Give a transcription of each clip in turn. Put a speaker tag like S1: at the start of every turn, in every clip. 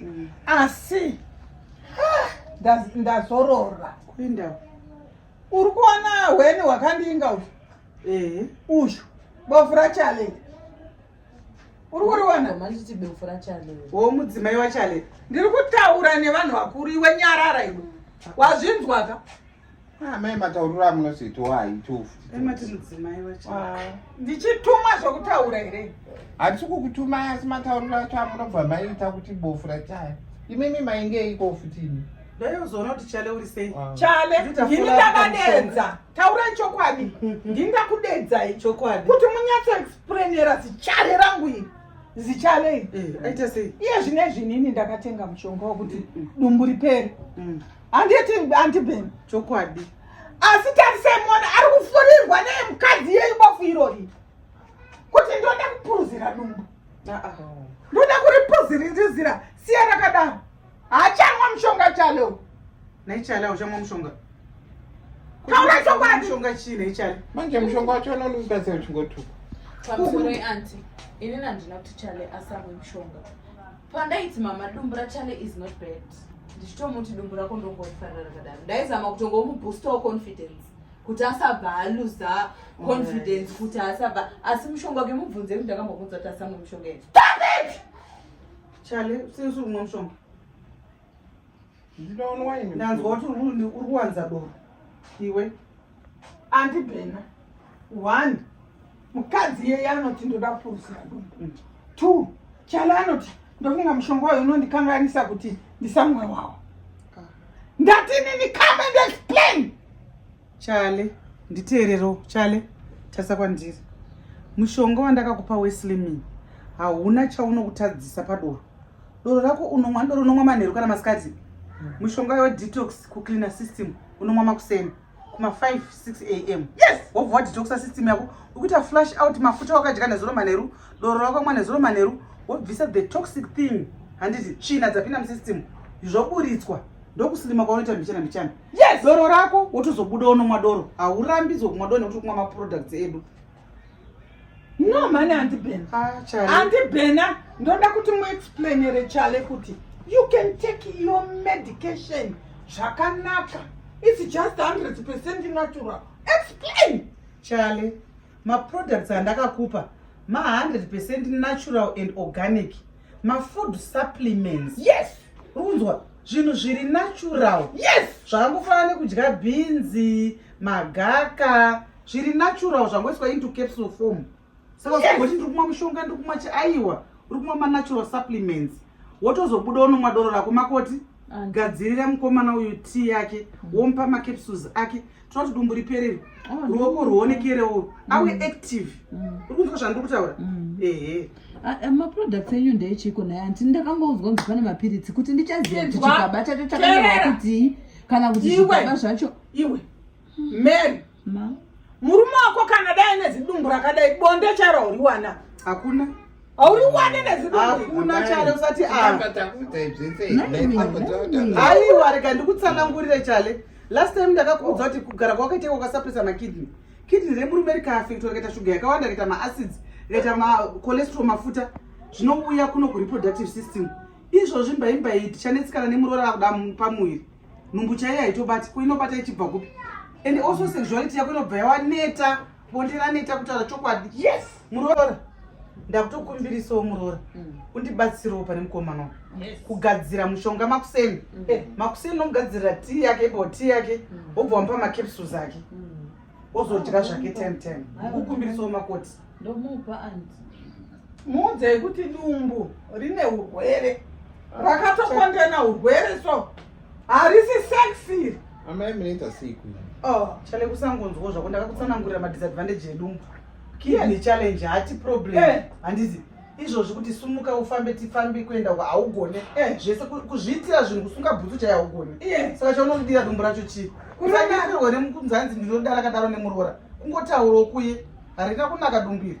S1: mm. asi ndazorora kuinda
S2: uri
S1: kuona hweni hwakandiinga uyu eh. uyu bofu rachale uri kuriona
S3: wo mudzimai wachale
S2: ndiri kutaura
S1: nevanhu vakuru iwe nyarara iwe wazvinzwaka amai ah,
S4: matauriro amunozoitawo
S2: haitofundichitumwa
S1: zvokutaura here hatisi kukutumai
S4: asi matauriro acho amunobva maiita kuti bofu rachaya imimi mainge iko futi imi ndaiuzoona kuti
S2: chale uri sei ah. chale ndini
S1: ndakadenza taurai chokwadi ndini ndakudedzai chokwadi kuti munyatso explainera zichale rangu iri zichale iri eh, aita sei iye zvine
S2: zvinini
S1: ndakatenga mushonga wokuti mm, mm. dumbu ripere mm. handiti anti ben chokwadi
S2: asi
S1: tarisai mona ari kufurirwa neye mukadzi yeyu bofu irori kuti ndoda kupuruzira dumbu ndoda kuripuzirizira siya rakadaro haachanwa mushonga chaleo naichale auchamwa
S2: mushonga taura
S1: chokwadi mushonga chii naichale
S2: manje mushonga wacho
S4: anonubatsira uchingotuka pamusoro
S3: yeanti inini handina kuti chale asamwe mushonga pandaiti mama dumbu rachale is not bad ndichitomuti dumbu rako ndongorifarira rakadaro ndaizama kutongomuboostawo confidence kuti asabva aluza confidence kuti asabva asi mushonga wake mubvunze kuti ndakambobvunza kuti asamwe mushonga yeti stop
S1: it chale
S2: sisi umwe mushonga
S4: ndinoonwa ini ndanzwa kuti uri
S2: kuwanza doro iwe
S1: andi bhena one mukadzi iyeye anoti ndoda kupurisira doro mm. two chala anoti ndofunga mushonga wayo unondikanganisa kuti ndisamwe wawo ah. ndati nini come and explain Chale,
S2: nditeerero Chale, tarisa kwandiri. Mushonga wandakakupa weSlimming hauna chaunokutadzisa padoro. Doro rako unomwa doro unomwa manheru kana masikati. Mushonga yo detox ku cleaner system unomwa makuseni kuma 5 6 am. Yes, wobva wadetoxa
S1: system
S2: yako. Ukuita flush out mafuta wakadya nezuro manheru, doro rakamwa nezuro manheru, wobvisa the toxic thing. Handiti tsvina dzapinda musystem zvoburitswa ndokusilima kwaunoita mbichana mbichana. yes doro rako wotozobuda unomwa doro haurambidzwe kumwa doro nekuti kumwa maproducts edu
S1: no mani andibhena ah, andibhena ndoda kuti muexplainere chale kuti you can take your medication zvakanaka its just 100 percent natural explain chale
S2: maproducts andakakupa ma 100 percent natural and organic mafood supplements yes
S1: runzwa
S2: zvinhu zviri natural yes zvakangofanana
S1: nekudya
S2: bhinzi magaka zviri natural zvangoiswa into capsule form saka zvakuti ndiri kumwa mushonga ndiri kumwa chiaiwa uri kumwa manatural supplements wotozobuda unomwa doro rako makoti gadzirira mukomana uyu tii yake womupa macapsules ake tinoda kuti dumbu riperere oh, ruoko rwuonekerewo awe mm. active mm. uri kunzwa zvandiri kutaura mm. ehe ah, eh, maproducts
S3: enyu ndeechiko naye anti ndakangonzwa kunzi pane mapiritsi kuti ndichaziva kuti chikaba chacho chakanyorwa kutii kana kuti zvikaba zvacho iwe
S1: mary murume wako kana dai nezidumbu rakadai bonde charo uriwana hakuna
S2: Auri wane
S1: nezino hakuna chale usati
S2: a.
S4: Aiwa rega ndikutsanangurire
S2: chale. Last time ndakakuudza kuti kugara kwakaita kwakasapisa makidney. Kidney remurume rikaafect rikaita shuga yakawanda rikaita maacids rikaita macholesterol mafuta zvinouya kuno kureproductive system. Izvozvi mbaimbai tichanetsikana nemuroora vakuda pamuviri. Nhumbu chaiyo haitobati ko inobata ichibva kupi? And also sexuality yako inobva yawaneta. bonde raneta kutaura chokwadi yes muroora ndakutokumbirisawo muroora mm. undibatsirewo pane mukomana yes. kugadzira mushonga makuseni mm. eh, makuseni nomugadzirira tii yake ipo tii yake mm. wobva mm. wamupa macapsules ake mm. ozodya zvake ten ten kukumbirisawo makoti ndomupa anti
S3: muudza
S1: yekuti dumbu rine urwere rakatokondena urwere so harisi sex iri amai munoita
S4: sei kuno oh chale
S2: kusangonzwawo zvako ndakakutsanangurira madisadvantage edu mbo kiya nechallenge hati problem eh. handizi izvozvi kuti sumuka ufambe tifambi kuenda uko haugone eh. zvese kuzviitira zvinhu kusunga bhutsu chai haugone eh. saka chaunodira dumbu racho chii kusadirwe nemukunzanzi ndinodara kadaro nemuroora kungotaurawo kuye harina kunaka dumbiri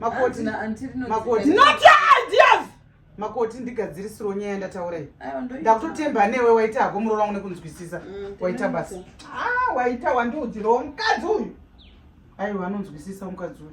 S1: makoti
S2: na auntie rino makoti
S1: not your ideas makoti
S2: ndigadzirisiro nyaya ndataura iyi ndakutotemba newe waita hako muroora wangu nekunzwisisa mm, waita basa ah waita
S1: wandiudzirawo
S2: mukadzi
S1: uyu aiwa
S2: anonzwisisa
S1: mukadzi uyu